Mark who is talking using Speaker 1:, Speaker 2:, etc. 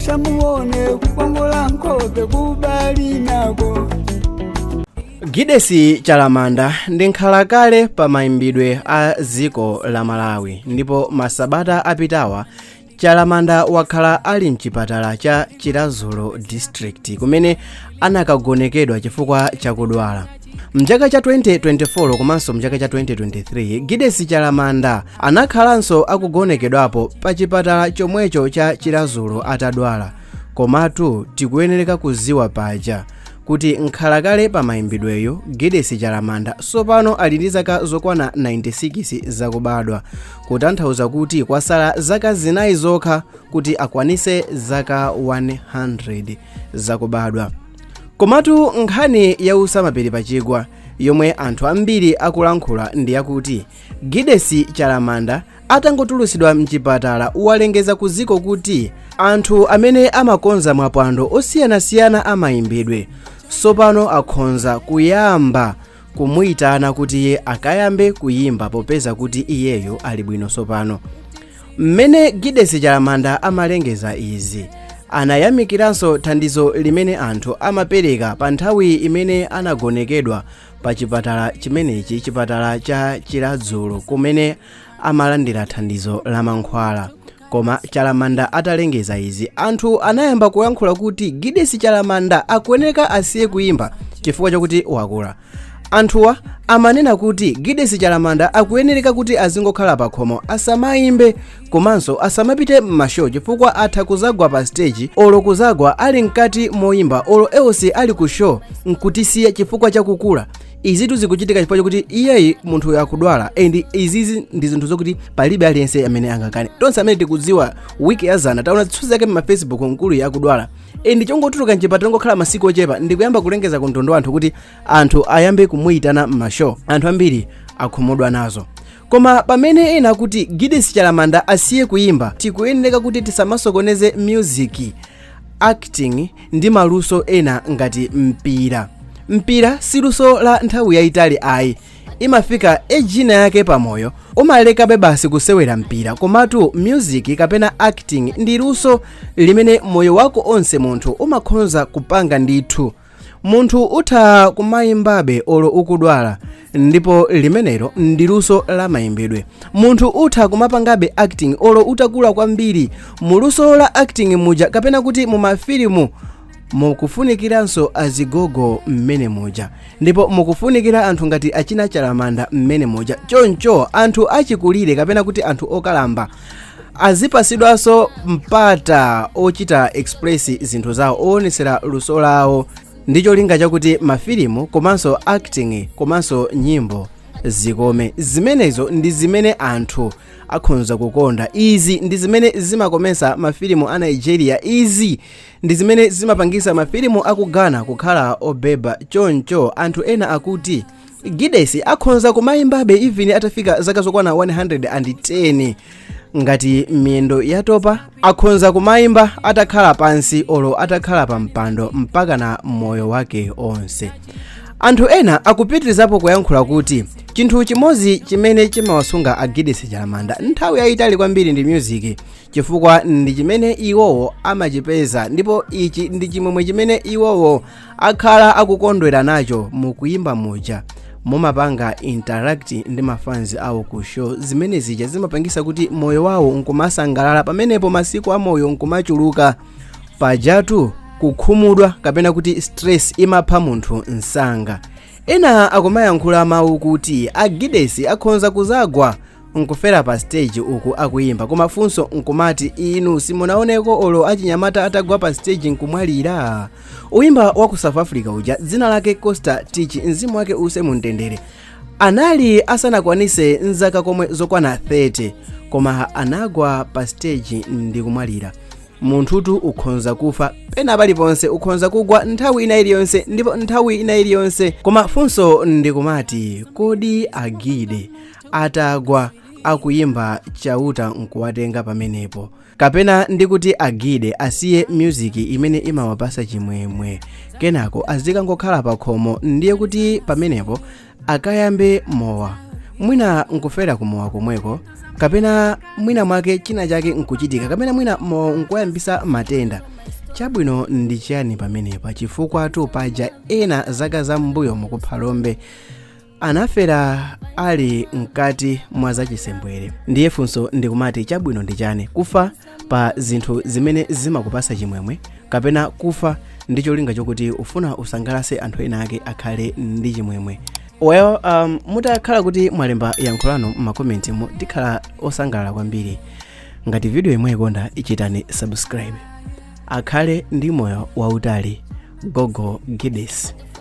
Speaker 1: musamuone kukongola nkhope kubali nako gidesi
Speaker 2: chalamanda ndi nkhalakale pa mayimbidwe a dziko la malawi ndipo masabata apitawa chalamanda wakhala ali mchipatala cha chiradzulo district kumene anakagonekedwa chifukwa chakudwala mchaka cha 2024 komanso mchaka cha 2023 gidesi chalamanda anakhalanso akugonekedwapo pa chipatala chomwecho cha chiradzulo atadwala komatu tikuyenereka kuziwa paja kuti nkhalakale pa mayimbidweyu gidesi chalamanda tsopano ali ndi zaka zokwana 96 zakubadwa kutanthauza kuti kwasala zaka zinayi zokha kuti akwanise zaka 100 zakubadwa komatu nkhani yautsa mapiri pa chigwa yomwe anthu ambiri akulankhula ndi yakuti gidesi chalamanda atangotulutsidwa mchipatala walengeza ku dziko kuti anthu amene amakonza mapwando osiyanasiyana amayimbidwe tsopano akhonza kuyamba kumuyitana kuti iye akayambe kuyimba popeza kuti iyeyo ali bwino tsopano mmene gidesi chalamanda amalengeza izi anayamikiranso thandizo limene anthu amapereka pa nthawi imene anagonekedwa pa chipatala chimenechi chipatala cha chiradzulo kumene amalandira thandizo la mankhwala koma chalamanda atalengeza izi anthu anayamba kuyankhula kuti gidesi chalamanda akuyeneka asiye kuyimba chifukwa chakuti wakula anthuwa amanena kuti gidesi chalamanda akuyenereka kuti azingokhala pakhomo asamayimbe komanso asamapite m'mashow chifukwa atha kuzagwa pa stage olo kuzagwa ali mkati moyimba olo else ali ku show nkutisiya chifukwa chakukula izitu zikuchitika chifukwa chokuti iyeyi munthuyu akudwala and izizi ndi zinthu zokuti palibe aliyense amene angakane tonse amene tikudziwa wiki yazana taona zithunzi zake mmafacebook mkuluyo akudwala and chongotuluka mchipatala ndi kungokhala masiku ochepa ndikuyamba kulengeza ku mtundu wa anthu kuti anthu ayambe kumuyitana m'mashow anthu ambiri akhumudwa nazo koma pamene ena akuti gidesi chalamanda asiye kuyimba tikuyenereka kuti tisamasokoneze music acting ndi maluso ena ngati mpira mpira si luso la nthawi yayitali ayi imafika age ina yake pamoyo umalekabe basi kusewera mpira komatu music kapena acting ndi luso limene moyo wako onse munthu umakhonza kupanga ndithu munthu utha kumayimbabe olo ukudwala ndipo limenelo ndi luso la mayimbidwe munthu utha kumapangabe acting olo utakula kwambiri mu luso la acting muja kapena kuti mu mafilimu mukufunikiranso azigogo mmene muja ndipo mukufunikira anthu ngati achina chalamanda mmene muja choncho anthu achikulire kapena kuti anthu okalamba azipasidwanso mpata ochita express zinthu zawo owonetsera luso lawo ndi cholinga chakuti mafilimu komanso acting komanso nyimbo zikome zimenezo ndi zimene anthu akhonza kukonda izi ndi zimene zimakomesa mafilimu a nigeria izi ndi zimene zimapangisa mafilimu aku ghana kukhala obeba choncho anthu ena akuti gidesi akhonza kumayimbabe even atafika zaka zokwana 110 ngati miyendo yatopa akhonza kumayimba atakhala pansi olo atakhala pa mpando mpaka na moyo wake onse anthu ena akupitirizapo kuyankhula kuti chinthu chimodzi chimene chimawasunga agidesi chalamanda nthawi yayitali kwambiri ndi music chifukwa ndi chimene iwowo amachipeza ndipo ichi ndi chimwemwe chimene iwowo akhala akukondwera nacho mukuyimba muja mumapanga interact ndi mafanzi awo ku show zimene zija zimapangisa kuti moyo wawo nkumasangalala pamenepo masiku a moyo nkumachuluka pajatu kukhumudwa kapena kuti stress imapha munthu msanga ena akumayankhula mawu kuti agidesi akhonza kuzagwa nkufera pa stage uku akuyimba koma funso nkumati inu simunaoneko olo achinyamata atagwa pa stage nkumwalira oyimba wa ku south africa uja dzina lake costa titch mzimu wake uuse mumtendere anali asanakwanise nzaka komwe zokwana 30 koma anagwa pa stage ndi kumwalira munthutu ukhonza kufa pena paliponse ukhonza kugwa nthawi ina iliyonse ndipo nthawi ina iliyonse koma funso ndikumati kodi agide atagwa akuyimba chauta nkuwatenga pamenepo kapena ndikuti agide asiye music imene imawapasa chimwemwe kenako azikangokhala pakhomo ndiye kuti pamenepo akayambe mowa mwina nkufera kumowa komweko kapena mwina mwake china chake nkuchitika kapena mwina mowa nkuyambisa matenda chabwino ndi chiyani pamenepa chifukwatu paja ena zaka za mbuyomu ku phalombe anafera ali mkati mwa zachisembwere ndiye funso ndikumati chabwino ndi chani kufa pa zinthu zimene zimakupasa chimwemwe kapena kufa ndi cholinga chokuti ufuna usangalase anthu ena ake akhale ndi chimwemwe well um, mutakhala kuti mwalemba yankho lanu m'makomentimu tikhala osangalala kwambiri ngati videoyi mwaikonda ichitani subscribe akhale ndi moyo wautali gogo gides